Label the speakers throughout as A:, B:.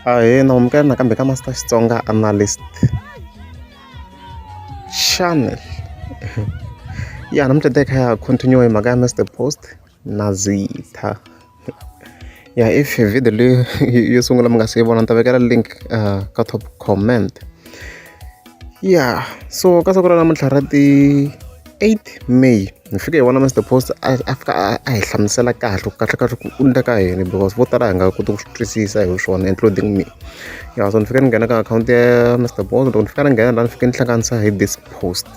A: ahee na amukela nakambe ka master xitsonga analyst channel ya namuntlha te kha ya continue hi mhaka ya mr post na zitha ya if video leyi yo sungula mi nga si yi vona ni ta vekela link uh, ka top comment ya so ka siku ra namuntlha ra ti 8 may Ni fike hi vona Mister Post a a fika a a hi hlamusela kahle ku kahlekahle ku u ni ta ka yini because vo tala hi nga koti ku swi twisisa hi swona including me ya so ni fike ni nghena ka akhawunti ya Mister Post loko ni fika ni nghena la ni fike ni hlanganisa hi this post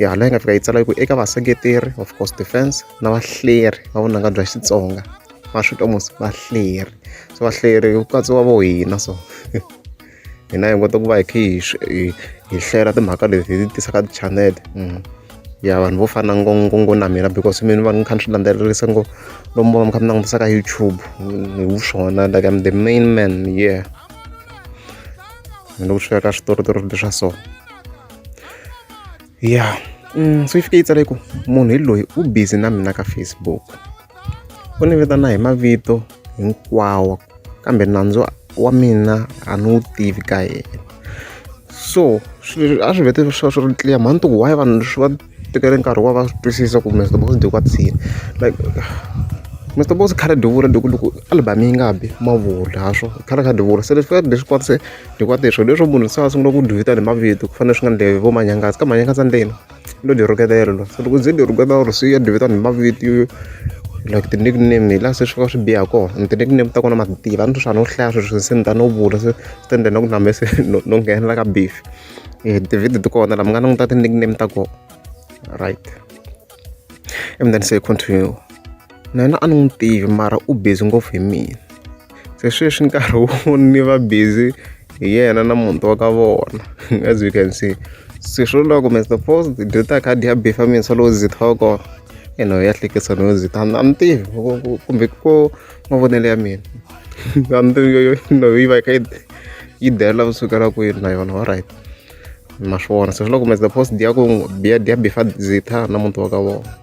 A: ya hala yi nga fika yi tsala yi ku eka vaseketeri of course defence na vahleri va vunanga bya Xitsonga va swi twa mos vahleri so vahleri ku katsiwa vo hina so. hina hi hunguta ku va hi kha hi hi hi hlera timhaka leti hi ti tisaka ti-channel ya vanhu vo fana ngo ngo ngo na mina because mina va ni kha ni swi landzelerisa ngo lomu va mi kha mi langutisa ka YouTube hi wu swona like I'm the main man yeah ni loko swi fika ka switoritori leswa so ya se yi fike yi tsale ku munhu hi loyi u busy na mina ka Facebook u ni vitana hi mavito hinkwawo kambe nandzu wa mina a ni wu tivi ka yena so swilo a swi vete swa swi ri clear mhani ti ku why vanhu swi va tekele nkarhi wa va swi twisisa ku Mister Boss Deku a tshini like Mister Boss khale Deku ra Deku loko album yi nga bi mavula ha swo khale ka Deku se leswi ka leswi . Hikuva leswi swilo leswo munhu se a sungula ku dyi vitana hi mavito ku fanele swi nga endleki vo Manyangaza ka Manyangaza ndzeni u lo dyi rhuketela so loko u ze u dyi rhuketela or se u ya dyi vitana hi mavito yo like ti-nick name hi laha se swi va swi biha kona and ti-nick name ta kona ma ti tiva a ni ri swa ha no hlaya sweswi se ni ta no vula se swi ta endla na ku na mehe se no no nghenela ka beef ti-video ti kona laha mi nga languta ti-nick name ta kona right. Emunene se hi continue na yena a ni n'wi tivi mara u busy ngopfu hi mina se sweswi nkarhi wu ni va busy hi yena na muti wa ka vona as you can see se swi vula ku Mister Paul hi dye ta khadi ya beef ya mina se loko ndzi thoko ene ho ya hlekisa no ndzi ta a ni tivi kumbe ko mavonelo ya mina a ni tivi yo yi va yi kha yi yi dela kusukela kwini na yona alright. ma swi vona se swi loko kumbe the post ya ku biya biya bifa zitha na muti wa ka vona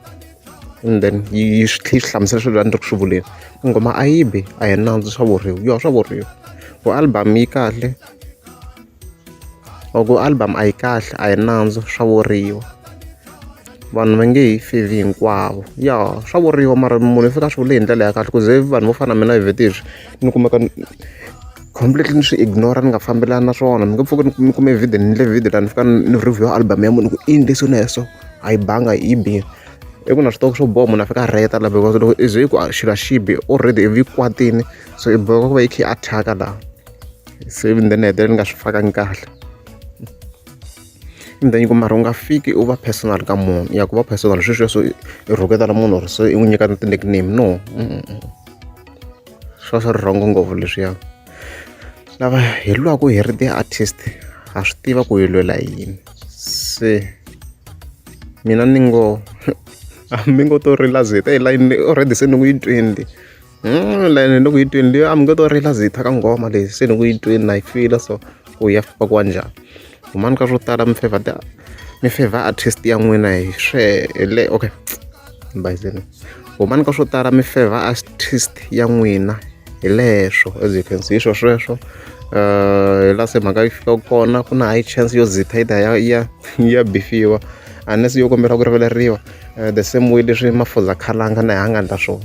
A: and then yi swi tlhe swi hlamusela swilo a ni ri ku swi vuleni nghoma a yi bi a hi nandzu swa vuriwa yo swa vuriwa ku album yi kahle or ku album a yi kahle a hi nandzu swa vuriwa vanhu va nge hi fi hi hinkwavo ya swa vuriwa mara munhu i fika a swi vule hi ndlela ya kahle ku ze vanhu vo fana na mina vhete hi swi ni kumeka ni completely ni swi ignore ni nga fambelani na swona ni nga pfuki ni ni kume video ni endle video laha ni fika ni ni review album ya munhu ku i yini lexi na ya so a yi banga yi bile i ku na swi tiva ku swo boha munhu a fika a rheta laha because loko i ze i ku a xilo a xi bi already ivi yi kwatini so i boheka ku va yi kha yi attack-a laha se ivi then ni hetelela ni nga swi fakangi kahle Ni ta nyika mara u nga fiki u va personal ka munhu ya ku va personal swesweswo i rhuketela munhu or se i n'wi nyika na ti-nickname no swa swi ri wrong ngopfu leswiya lava hi lwaku hi ri ti-artist ha swi tiva ku hi lwela yini se mina ni ngo a mi ngo to rila ze hi te hi layinile already se ni ku yi twini le. Layeni ni ku yi twini leyi a mi nge to rila ze hi thyaka nghoma leyi se ni ku yi twini na yi fila so ku ya famba ku wa njhani humani ka swo tala mi favor ta mi favor artist ya n'wina hi swele okay ni bayizeni humani ka swo tala mi favor artist ya n'wina hi leswo as you can see swo sweswo hi la se mhaka yi fika kona ku na high chance yo zitha yi ta ya ya ya bifiwa unless yo kombela ku rivaleriwa the same way leswi mafuza khalanga na ha nga endla swona